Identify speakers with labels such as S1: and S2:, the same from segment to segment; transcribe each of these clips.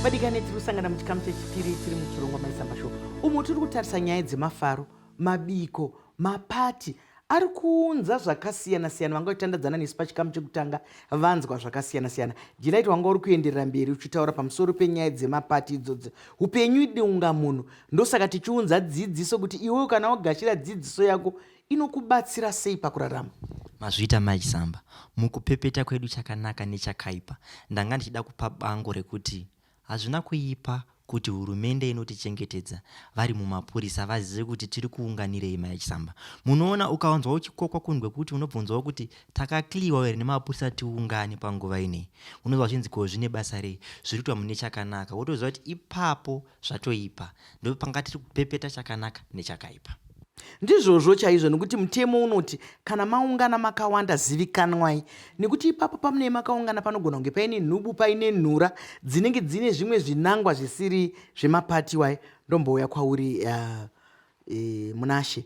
S1: vadikani tiri kusangana muchikamu chechipiri tiri muchirongwa maisamba show umo tiri kutarisa nyaya dzemafaro mabiko mapati ari kuunza zvakasiyana siyana vanga vachitandadzana nesu pachikamu chekutanga vanzwa zvakasiyana siyana jilaiti wanga uri kuenderera mberi uchitaura pamusoro penyaya dzemapati idzodzo upenyu idunga munhu ndosaka tichiunza dzidziso kuti iwewo kana wagashira dzidziso yako inokubatsira sei pakurarama? Mazviita Mai
S2: Chisamba, mukupepeta kwedu chakanaka nechakaipa, ndanga ndichida kupa bango rekuti hazvina kuipa kuti hurumende inotichengetedza vari mumapurisa vazive kuti tiri kuunganirei mai chisamba munoona ukawanzwa uchikokwa kunhu kwekuti unobvunzawo kuti takakliwa here nemapurisa tiungane panguva inei unonzwa zvinzi ko zvine basa rei zviri kuitwa mune chakanaka wotoziva kuti ipapo zvatoipa ndopanga tiri kupepeta chakanaka nechakaipa ndizvozvo
S1: chaizvo nekuti mutemo unoti kana maungana makawanda zivikanwai nekuti ipapo pamunei makaungana panogona kunge paine nhubu paine nhura dzinenge dzine zvimwe zvinangwa zvisiri zvemapati wai ndombouya kwauri uh, e, munashe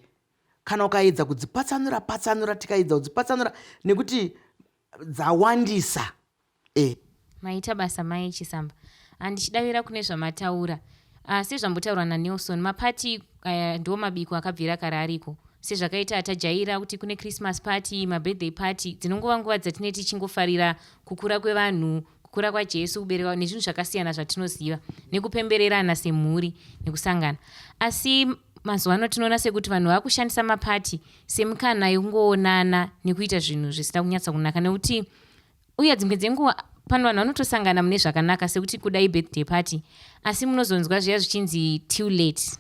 S1: kana ukaedza kudzipatsanura patsanura tikaedza kudzipatsanura nekuti dzawandisa Eh.
S3: Maita basa mai Chisamba. Handichidavira kune zvamataura. Ah, sezvambotaurwa naNelson, mapati aya ndiwo mabiko akabvira kare ariko. Sezvakaita tajaira kuti kune Christmas party, mabirthday party, dzinongova nguva dzatine tichingofarira kukura kwevanhu, kukura kwaJesu, kuberekwa nezvinhu zvakasiyana zvatinoziva, nekupembererana semhuri, nekusangana. Asi mazuva ano tinoona sekuti vanhu vakushandisa mapati semikana yekungoonana nekuita zvinhu zvisina kunyatsa kunaka nekuti uye dzimwe dzenguva pano vanhu vanotosangana mune zvakanaka sekuti kudai birthday party asi munozonzwa zviya zvichinzi too late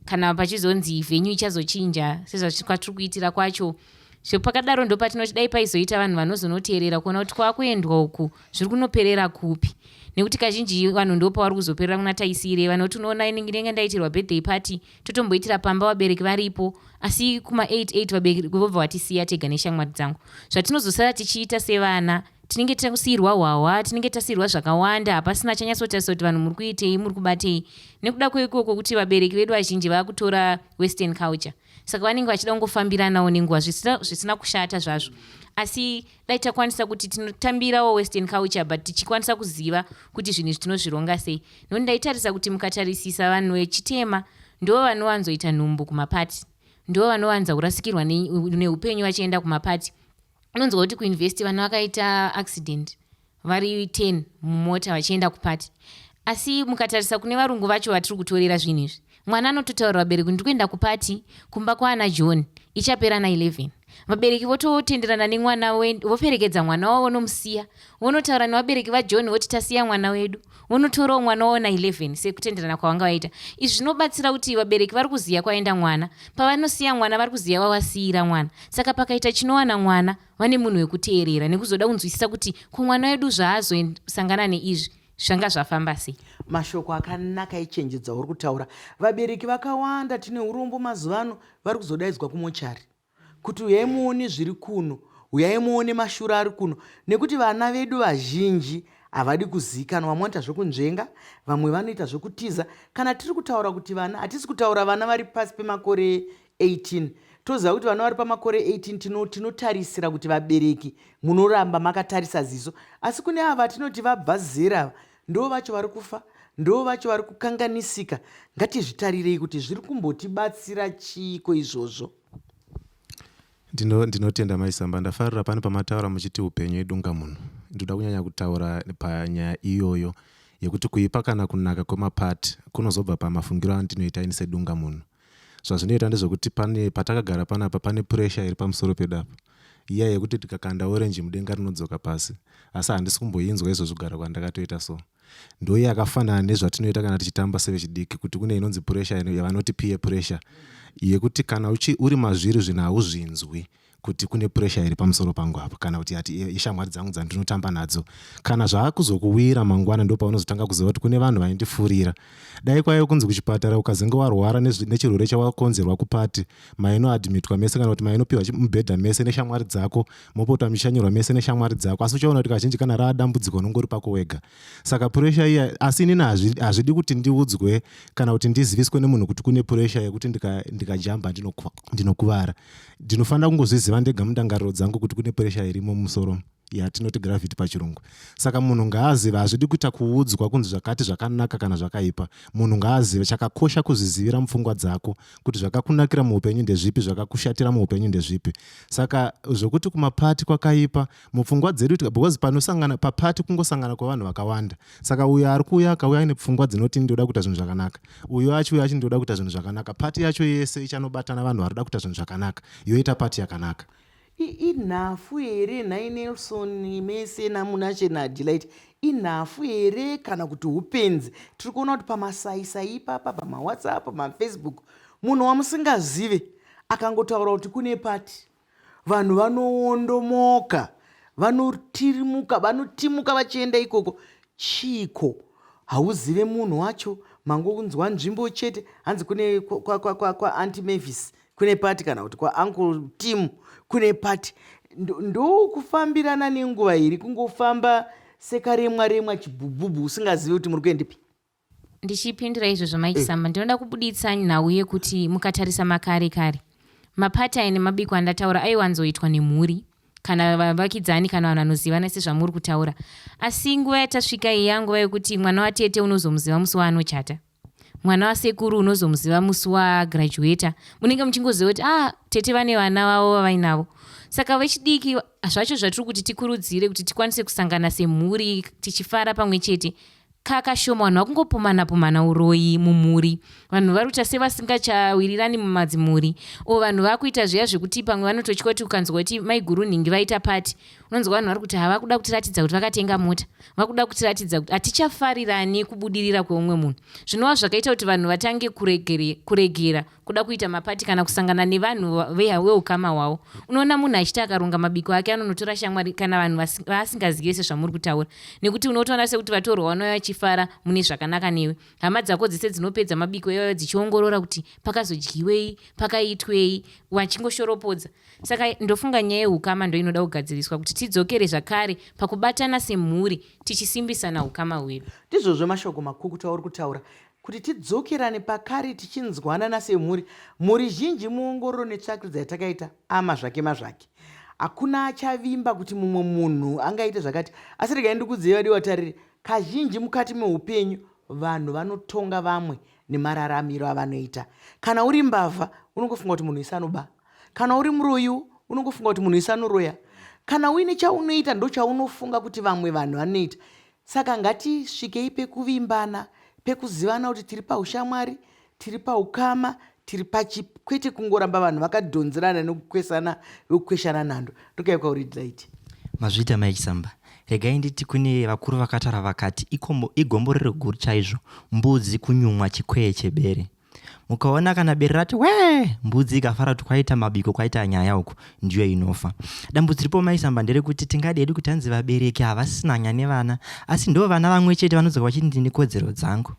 S3: kana pachizonzi venyu ichazochinja sezvakwatiri kuitira kwacho zvepakadaro ndopatinoti dai paizoita vanhu vanozonoteerera kuona kuti kwakuendwa uku zviri kunoperera kupi nekuti kazhinji vanhu ndopavari kuzoperera kuna taisiirei vanoti unoona inenge ndaitirwa birthday party totomboitira pamba vabereki varipo asi kuma 88 vabereki vobva vatisiya tega neshamwari dzangu zvatinozosara tichiita sevana tinenge tasiyirwa hwahwa tinenge tasiyirwa zvakawanda hapasina chanyatsotarisa kuti vanhu muri kuitei muri kubatei nekuda kweikoko kuti vabereki vedu vazhinji vava kutora western culture saka vanenge vachida kungofambiranawo nenguva zvisina kushata zvazvo asi dai takwanisa kuti tinotambirawo western culture but tichikwanisa kuziva kuti zvinhu izvi tinozvironga sei nokuti ndaitarisa kuti mukatarisisa vanhu vechitema ndo vanowanzoita nhumbu kumapati ndo vanowanza kurasikirwa neupenyu vachienda kumapati unonzwa kuti kuinvesti vana vakaita accident vari 10 mumota vachienda kupati asi mukatarisa kune varungu vacho vatiri kutorera zvinhu izvi mwana anototaurira vabereki kuti ndikuenda kupati kumba kwaana john ichapera na 11 vabereki vototenderana nemwana voperekedza mwana wavo vonomusiya vonotaura nevabereki vajohn voti tasiya mwana wedu vonotorawo mwana wavo na 11 sekutenderana kwavanga vaita izvi zvinobatsira kuti vabereki vari kuziva kwaenda mwana pavanosiya mwana vari kuziva vavasiira mwana saka pakaita chinowana mwana vane munhu wekuteerera nekuzoda kunzwisisa kuti ko mwana wedu zvaazosangana neizvi zvanga zvafamba sei mashoko akanaka
S1: echenjedza uri kutaura vabereki vakawanda tine urombo mazuva ano vari kuzodaidzwa kumochari kuti uyai muone zviri kuno uyai muone mashura ari kuno nekuti vana vedu vazhinji havadi kuzikanwa vamwe vanoita zvekunzvenga vamwe vanoita zvekutiza kana tiri kutaura kuti vana hatisi kutaura vana vari pasi pemakore 18 toziva kuti vana vari pamakore 18 tino tinotarisira kuti vabereki munoramba makatarisa ziso asi kune ava tinoti vabva zera ava ndo vacho vari kufa ndo vacho vari kukanganisika ngatizvitarirei kuti zviri kumbotibatsira chiiko izvozvo ndino
S4: ndinotenda maisamba ndafarira pane pamataura muchiti upenyu idunga munhu ndoda kunyanya kutaura panyaya iyoyo yekuti kuipa kana kunaka kwemapart kunozobva pamafungiro andinoita ini sedunga munhu zvazvinoita ndezvekuti pane patakagara panapa pane puresha iri pamusoro pedu apa iya yekuti tikakanda orenji mudenga rinodzoka pasi asi handisi kumboinzwa izvo zvigara kwandakatoita so ndoiye akafanana nezvatinoita kana tichitamba sevechidiki kuti kune inonzi puresha yavanoti piye puresha yekuti kana uchi, uri mazviri zvinhu hauzvinzwi kuti kune pressure iri pamusoro pangu apa kana kuti ati ishamwari dzangu dzandinotamba nadzo kana zvaakuzokuwira mangwana ndo paunozotanga kuziva kuti kune vanhu vaindifurira dai kwaive kunzi kuchipatara ukazenge warwara nechirwere chawakonzerwa kupati mainoadmitwa mese kana kuti mainopiwa mubhedha mese neshamwari dzako mopota muchishanyirwa mese neshamwari dzako asi uchaona kuti kazhinji kana raa dambudziko unongori pako wega saka puresha iya asi inini hazvidi kuti ndiudzwe kana kuti ndiziviswe nemunhu kuti kune puresha yekuti ndikajamba ndinokuvara ndinofanira kungozviziva ndega mundangariro dzangu kuti kune puresha irimo mumusoro yatinoti gravity pachirungu saka munhu ngaazive hazvidi kuita kuudzwa kunzi zvakati zvakanaka kana zvakaipa munhu ngaazive chakakosha kuzvizivira mupfungwa dzako kuti zvakakunakira muupenyu ndezvipi zvakakushatira muupenyu ndezvipi saka zvokuti kumapati kwakaipa mupfungwa dzedu because panosangana papati kungosangana kwevanhu vakawanda saka uyo ari kuuya akauya aine pfungwa dzinoti ndoda kuita zvinhu zvakanaka uyo achiuya achi ndoda kuita zvinhu zvakanaka pati yacho yese ichanobatana vanhu vari kuda kuita zvinhu zvakanaka yoita pati yakanaka inhafu
S1: here nhai nelson mese namunashe nadelight inhafu here kana kuti upenzi tiri kuona kuti pamasaisai ipapa pamawhatsapp pamafacebook munhu wamusingazive akangotaura kuti kune pati Vanhu vanowondomoka, vanotirimuka, vanotimuka vachienda ikoko. Chiiko? Hauzive munhu wacho, mangonzwa nzvimbo chete, hanzi kune kwaAunty Mavis kune pati kana kuti kwaUncle Tim kune pati. Ndokufambirana nenguva iri kungofamba sekaremwa remwa chibhubhubhu usingazive kuti muri kuendepi. ndichipindira
S3: izvozvo mike mm. samba ndinoda kubuditsa nhau yekuti mukatarisa makare kare mapata ene mabiko andataura aiwanzoitwa nemhuri kana vavakidzani kana vanhu vanozivana sezvamuri kutaura asi nguva yatasvika iyi yanguva yekuti mwana watete unozomuziva musi waanochata mwana wasekuru unozomuziva musi wagraduata munenge muchingoziva kuti ah tete vane vana vavo vavainavo saka vechidiki zvacho zvatiri kuti tikurudzire kuti tikwanise kusangana semhuri tichifara pamwe chete Kaa kashoma vanhu vakungopumana pumana uroyi mumhuri vanhu varuta sevasingachawirirani mumadzimhuri o vanhu vakuita zviya zvekuti pamwe vanototya kuti ukanzwa kuti maiguru nhingi vaita pati unonzwa vanhu vari kuti havakuda kutiratidza kuti vakatenga mota vakuda kutiratidza kuti hatichafarirani kubudirira kweumwe munhu zvinova zvakaita kuti vanhu vatange kuregera kuda kuita mapati kana kusangana nevanhu veukama hwavo unoona munhu achiti akaronga mabiko ake anonotora shamwari kana vanhu vaasingazive sezvamuri kutaura nekuti unotoona sekuti vatorwa vanouya vachifara mune zvakanaka newe hama dzako dzese dzinopedza mabiko ivayo dzichiongorora kuti pakazodyiwei pakaitwei vachingoshoropodza saka ndofunga nyaya yeukama ndoinoda kugadziriswa kuti tidzokere zvakare pakubatana semhuri tichisimbisana ukama hwedu ndizvozvo mashoko
S1: makukutu auri kutaura Kuti tidzokerane pakare tichinzwanana semhuri, mhuri zhinji muongororo netsvakirudzo yatakaita ama zvake mazvake. Hakuna achavimba kuti mumwe munhu angaite zvakati. Asi regai ndikudzei vadiwa tariri, kazhinji mukati meupenyu vanhu vanotonga vamwe nemararamiro avanoita. Kana uri mbavha unongofunga kuti munhu wese anoba. Kana uri muroyiwo unongofunga kuti munhu wese anoroya. Kana uine chaunoita ndochaunofunga kuti vamwe vanhu vanoita. Saka ngatisvikei pekuvimbana, pekuzivana kuti tiri paushamwari, tiri paukama, tiri pachip, kwete kungoramba vanhu vakadhonzerana nekukwesana vekukweshana nhando. Ndokaiuka uri right. Mazviita mai
S2: Chisamba. Regai nditi kune vakuru vakatara vakati ikombo, igomborero guru chaizvo mbudzi kunyumwa chikwee chebere. mukaona kana bere rati wee mbudzi ikafara kuti kwaita mabiko kwaita nyaya uku ndiyo inofa dambudzo ripo maisamba nderekuti tingadi hedu kuti hanzi vabereki havasisina nyaya nevana asi ndo vana vamwe chete vanodzoka vachiti ndine kodzero dzangu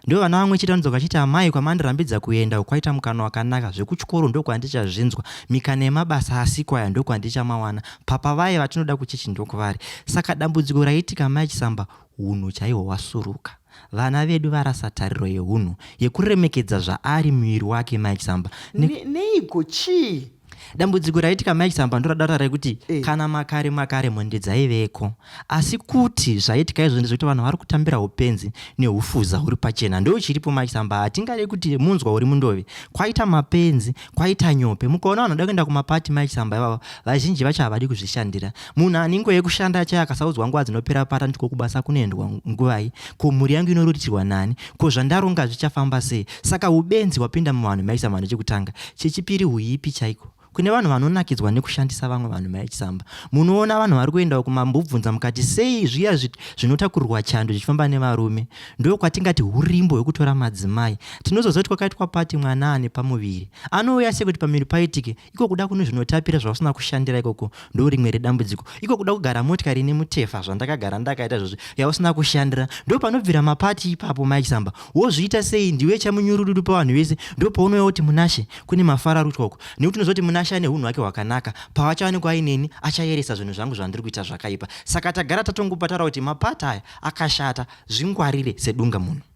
S2: ndo vana vamwe chete vanodzoka vachiti amai kwamandirambidza kuenda ukwaita mukana wakanaka zvekuchikoro ndokwandichazvinzwa mikana yemabasa asiko aya ndokwandichamawanaana papa vaye vatinoda kuchechi ndokuvari saka dambudziko raitika mai chisamba Hunhu chaihwo hwasuruka. Vana vedu varasa tariro yehunhu, yekuremekedza zvaari muviri wake Mike Samba. Ne, ne, neiko
S1: chii? Dambudziko raitika
S2: Mike Samba ndoradata rekuti e. kana makare makare mhondi dzaiveko asi kuti zvaitika izvo ndezvekuti vanhu vari kutambira upenzi neufuza huri pachena ndo chiripo Mike Samba hatingade kuti munzwa uri mundove kwaita mapenzi kwaita nyope mukaona vanhu vada kuenda kumapati Mike Samba ivavo vazhinji vacho havadi kuzvishandira munhu anengo yekushanda achaye akasaudzwa nguva dzinopera pata ndiko kubasa kunoendwa nguvai ko mhuri yangu inoritirwa nani ko zvandaronga zvichafamba sei saka ubenzi hwapinda muvanhu maisa mhano chekutanga chechipiri huipi chaiko kune vanhu vanonakidzwa nekushandisa vamwe vanhu maichisamba munoona vanhu vari kuendawo kumambobvunza mukati sei zviya zvinotakurirwa chando zvichifamba nevarume ndo kwatingati urimbo hwekutora madzimai tinozozoti kwakaitwa pati mwana ane pamuviri anouya sekuti pamiri paitike iko kuda kunhu zvinotapira zvausina kushandira ikoko ndorimwe redambudziko iko kuda kugara motikari ine mutefa zvandakagara ndakaita zvozvi yausina kushandira ndo panobvira mapati ipapo mike samba wozviita sei ndiwe chamunyurududu pavanhu vese ndo paunouya kuti munashe kune mafara rutwa uko nekuti unozoti munashe ane unhu hwake hwakanaka pavachawanikwa aineni achayeresa zvinhu zvangu zvandiri kuita zvakaipa saka tagara tatongopatara kuti mapati aya akashata zvingwarire sedunga munhu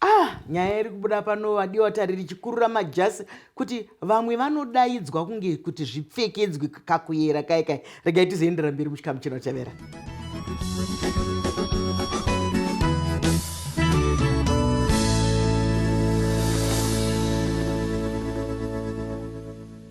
S2: Ah,
S1: nyaya iri kubuda pano vadiwa tari richikurura majasi kuti vamwe vanodaidzwa kunge kuti zvipfekedzwe kakuyera kai kai regai tizoendera mberi muchikamu chinotevera